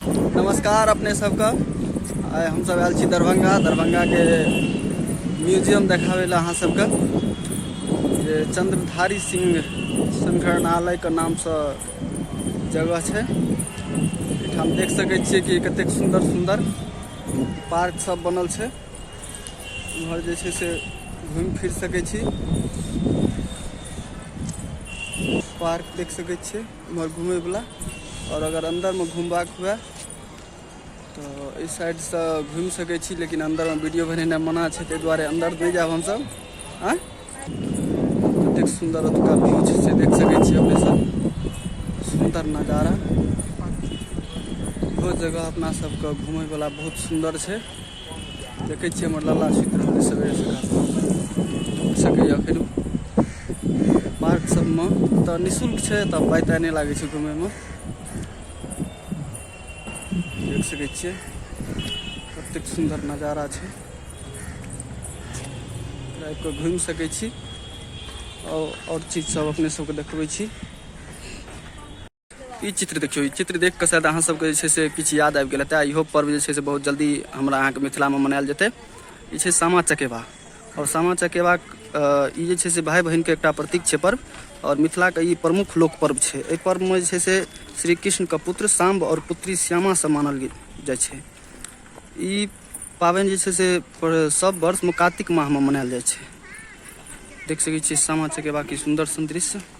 नमस्कार अपने सबके आइ हमसब आयल छी दरभंगा दरभंगाके म्यूजियम देखाबै लए अहाँ सबके जे चंद्रधारी सिंह संग्रहालयके नामसँ जगह छै एहिठाम देख सकै छियै कि कतेक सुन्दर सुन्दर पार्क सब बनल छै इम्हर जे छै से घूमि फिर सकै छी पार्क देख सकै छियै एम्हर घुमैवला आओर अगर अन्दरमे घुमबाक हुए तऽ एहि साइडसँ घुमि सकै छी लेकिन अन्दरमे वीडियो बनेनाइ मना छै ताहि दुआरे अन्दर नहि जायब हमसभ आँ कतेक सुन्दर ओतुका व्यू छै से देख सकै छी अपने सब सुन्दर नजारा इहो जगह अपना सबके घुमैवला बहुत सुन्दर छै देखै छियै हमर लाला सुति रहल अइ सवेरे सकाल उठि सकैए फेर पार्क सबमे तऽ निःशुल्क छै तऽ पाइ ताइ नहि लागै छै घुमैमे देख सकै छियै कतेक सुन्दर नजारा छै आबि कऽ घुमि सकै छी आओर चीज सब अपने सबके देखबै छी ई चित्र देखियौ ई चित्र देख कऽ शायद अहाँ सबके जे छै से किछु याद आबि गेल हेतै इहो पर्व जे छै से बहुत जल्दी हमरा अहाँके मिथिलामे मनायल जेतै ई छै सामा चकेबा आओर सामा चकेबा ई जे छै से भाय बहिनके एकटा प्रतीक छै पर्व आओर मिथिलाके ई प्रमुख लोक पर्व छै एहि पर्वमे जे छै से श्री कृष्णके पुत्र साम्ब आओर पुत्री श्यामासँ मानल जाइ छै ई पाबनि जे छै से सब वर्षमे कातिक माहमे मनायल जाइ छै देख सकै छियै सामा चकेबा की सुन्दर सुन्दर दृश्य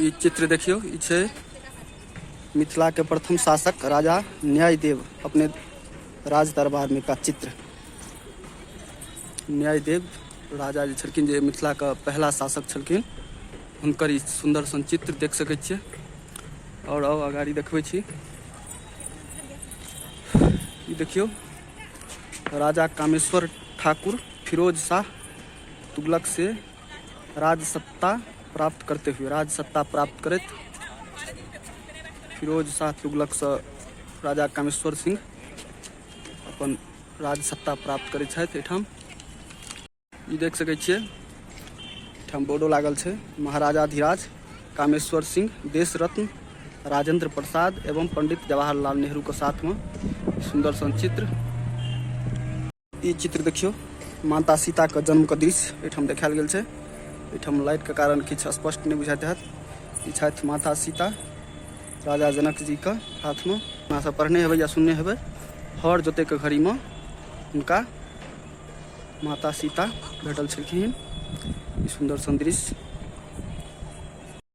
ई चित्र देखियौ ई छै मिथिला के प्रथम शासक राजा न्याय देेव अपने राज दरबार मे का चित्र न्याय देेव राजा जे छलखिन जे मिथिला के पहिला शासक छलखिन हुनकर ई सुन्दर सन चित्र देख सकै छियै आओर आउ अगाड़ी देखबै छी ई देखियौ राजा कामेश्वर ठाकुर फिरोज शाह तुगलक से राजसत्ता प्राप्त करते हुए राजसत्ता प्राप्त करैत फिरोज शाह तुगलकसँ राजा कामेश्वर सिंह अपन राजसत्ता प्राप्त करैत छथि एहिठाम ई देख सकै छियै एहिठाम बोर्डो लागल छै महाराजा धीराज कामेश्वर सिंह देश रत्न राजेंद्र प्रसाद एवं पंडित जवाहरलाल नेहरूके साथमे सुन्दर सन चित्र ई चित्र देखियौ माता सीताके जन्मके दृश्य एहिठाम देखायल गेल छै एहिठाम लाइटके कारण किछु स्पष्ट नहि बुझाइत हैत ई छथि माता सीता राजा जनकजीके हाथमे अपनासभ पढ़ने हेबै या सुनने हेबै हर जोतैके घड़ीमे हुनका माता सीता भेटल छलखिन ई सुन्दर सन्दृश्य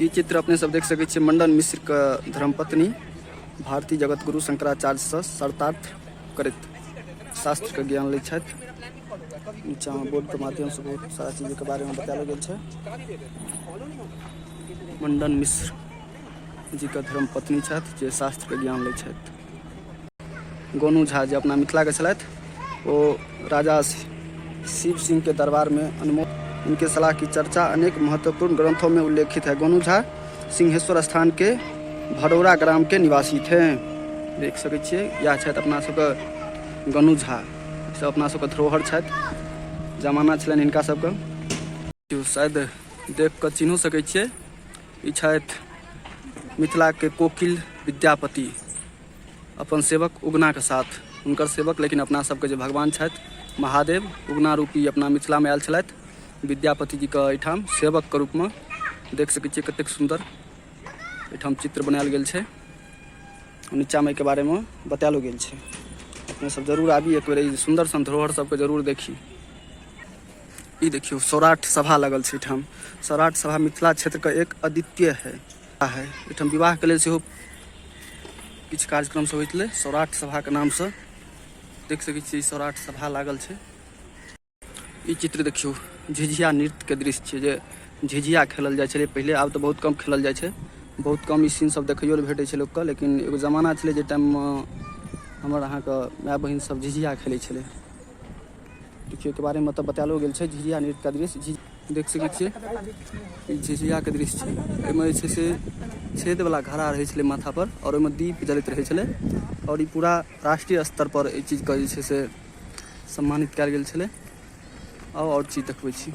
ई चित्र अपने सब देख सकते मंडन मिश्र के धर्मपत्नी भारतीय जगत गुरु शंकराचार्य से शर्तार्थ करत शास्त्रके ज्ञान लै छथि नीचाँमे बोर्डके माध्यमसँ बहुत सारा चीजके बारेमे बतायल गेल छै मण्डन मिश्र जीके धर्म पत्नी छथि जे शास्त्रके ज्ञान लै छथि गोनू झा जे अपना मिथिलाके छलथि ओ राजा शिव सिंह के दरबार में अनमोल इनके सलाह की चर्चा अनेक महत्वपूर्ण ग्रंथों में उल्लेखित है गोनू झा सिंहेश्वर स्थान के भडौरा ग्राम के निवासी थे देख सकै छियै इएह छथि अपना सबके गनु झा सब अपना सबके धरोहर छथि जमाना छलनि हिनका सबके शायद देख कऽ चिन्हो सकै छियै ई छथि मिथिलाके कोकिल विद्यापति अपन सेवक उगनाके साथ हुनकर सेवक लेकिन अपना सबके जे भगवान छथि महादेव उगना रूपी अपना मिथिलामे आयल छलथि विद्यापतिजीके एहिठाम सेवकके रूपमे देख सकै छियै कतेक सुन्दर एहिठाम चित्र बनायल गेल छै नीचाँमे एहिके बारेमे बतायलो गेल छै अपने सब जरूर आबी एक बेर सुन्दर सन धरोहर सबके जरूर देखी ई देखियौ सौराठ सभा लगल छै एहिठाम सौराठ सभा मिथिला क्षेत्रके एक अद्वितीय है है एहिठाम विवाह के लेल सेहो किछु कार्यक्रम सब होइत सौराठ सभा के नाम से देख सकै छियै सौराठ सभा लागल छै ई चित्र देखियौ झिझिया नृत्य के दृश्य छै जे झिझिया खेलल जाइ छलै पहिले आब तऽ बहुत कम खेलल जाइ छै बहुत कम ई सीन सब देखैयो लए भेटै छै लोकके लेकिन एगो जमाना छलै जे टाइममे हमर अहाँके माय बहिन सब झिझिया खेलै छलै देखियौ के बारे मे एतऽ बतेलो गेल छै झिझिया नृत्य के दृश्य झि देख सकै छियै ई झिझिया के दृश्य छै एहिमे जे छै से छेद वाला घड़ा रहै छलै माथा पर आओर ओहिमे दीप जलैत रहै छलै आओर ई पूरा राष्ट्रीय स्तर पर एहि चीज के जे छै से सम्मानित कयल गेल छलै आउ आओर चीज देखबै छी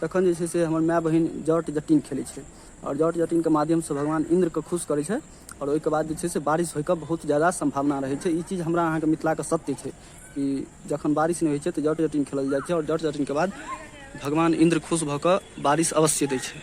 तखन जे छै से हमर माय बहिन जट जटिन खेलै छै आओर जट जटिनके माध्यमसँ भगवान इन्द्रके खुश करै छै आओर ओहिके बाद जे छै से बारिश होइके बहुत ज्यादा सम्भावना रहै छै ई चीज हमरा अहाँके मिथिलाके सत्य छै कि जखन बारिश नहि होइ छै तऽ जट जटिन खेलल जाइ छै आओर जट जटिनके बाद भगवान इन्द्र खुश भऽ कऽ बारिश अवश्य दै छै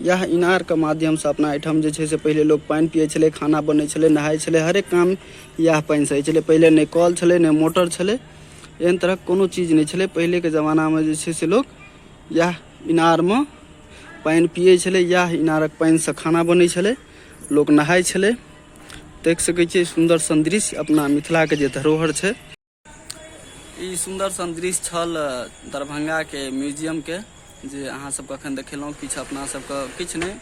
इएह इनारके माध्यमसँ अपना एहिठाम जे छै से पहिले लोक पानि पिए छलै खाना बनै छलै नहाइ छलै हरेक काम इएह पानिसँ होइ छलै पहिले नहि कल छलै नहि मोटर छलै एहन तरहक कोनो चीज नहि छलै पहिलेके जमानामे जे छै से लोक इएह इनारमे पानि पिए छलै इएह इनारक पानिसँ खाना बनै छलै लोक नहाइ छलै देख सकै छियै सुन्दर सन्दृश्य अपना मिथिलाके जे धरोहर छै ई सुन्दर सन दृश्य छल दरभंगाके म्यूजियमके जे अहाँ सबके अखन देखेलहुँ किछु अपना सबके किछु नहि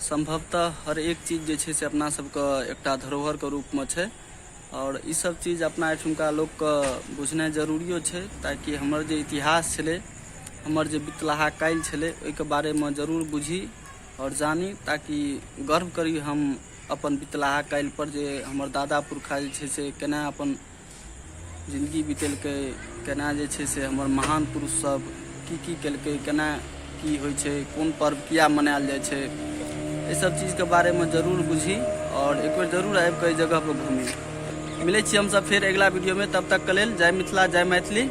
सम्भवतः हर एक चीज जे छै से अपना सबके एकटा धरोहरके रूपमे छै आओर ई सब चीज अपना एहिठुमका लोकके बुझनाइ जरूरियो छै ताकि हमर जे इतिहास छलै हमर जे बितलाहा काल्हि छलै ओहिके बारेमे जरूर बुझी आओर जानी ताकि गर्व करी हम अपन बितलाहा काल्हिपर जे हमर दादा पुरखा जे छै से केना अपन जिनगी बितेलकै केना जे छै से हमर महान पुरुष सब की की केलकै केना की होइ छै कोन पर्व किया मनायल जाइ छै एहि सब चीज के बारे में जरूर बुझी और एक बेर जरूर आबि कऽ जगह पर घूमी मिलै छी हमसब फेर अगिला वीडियो में तब तक के लेल जय मिथिला जय मैथिली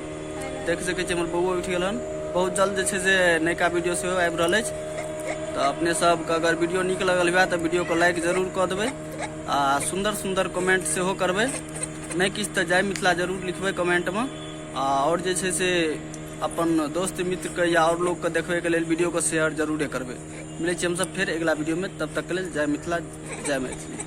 देख सकै छी हमर बौओ उठि गेल हन बहुत जल्द जे छै से नयका वीडियो सेहो आबि रहल अछि तऽ अपने सबके अगर वीडियो नीक लगल हुए तऽ वीडियोके लाइक जरूर कऽ देबै आ सुन्दर सुन्दर कमेंट सेहो करबै नहि किछु तऽ जय मिथिला जरूर लिखबै कमेंटमे आ आओर जे छै से अपन दोस्त मित्रके या आओर लोकके देखबैके लेल वीडियोके शेयर जरूरे करबै मिलै छी हमसभ फेर अगिला वीडियोमे तब तकके लेल जय मिथिला जय मैथिली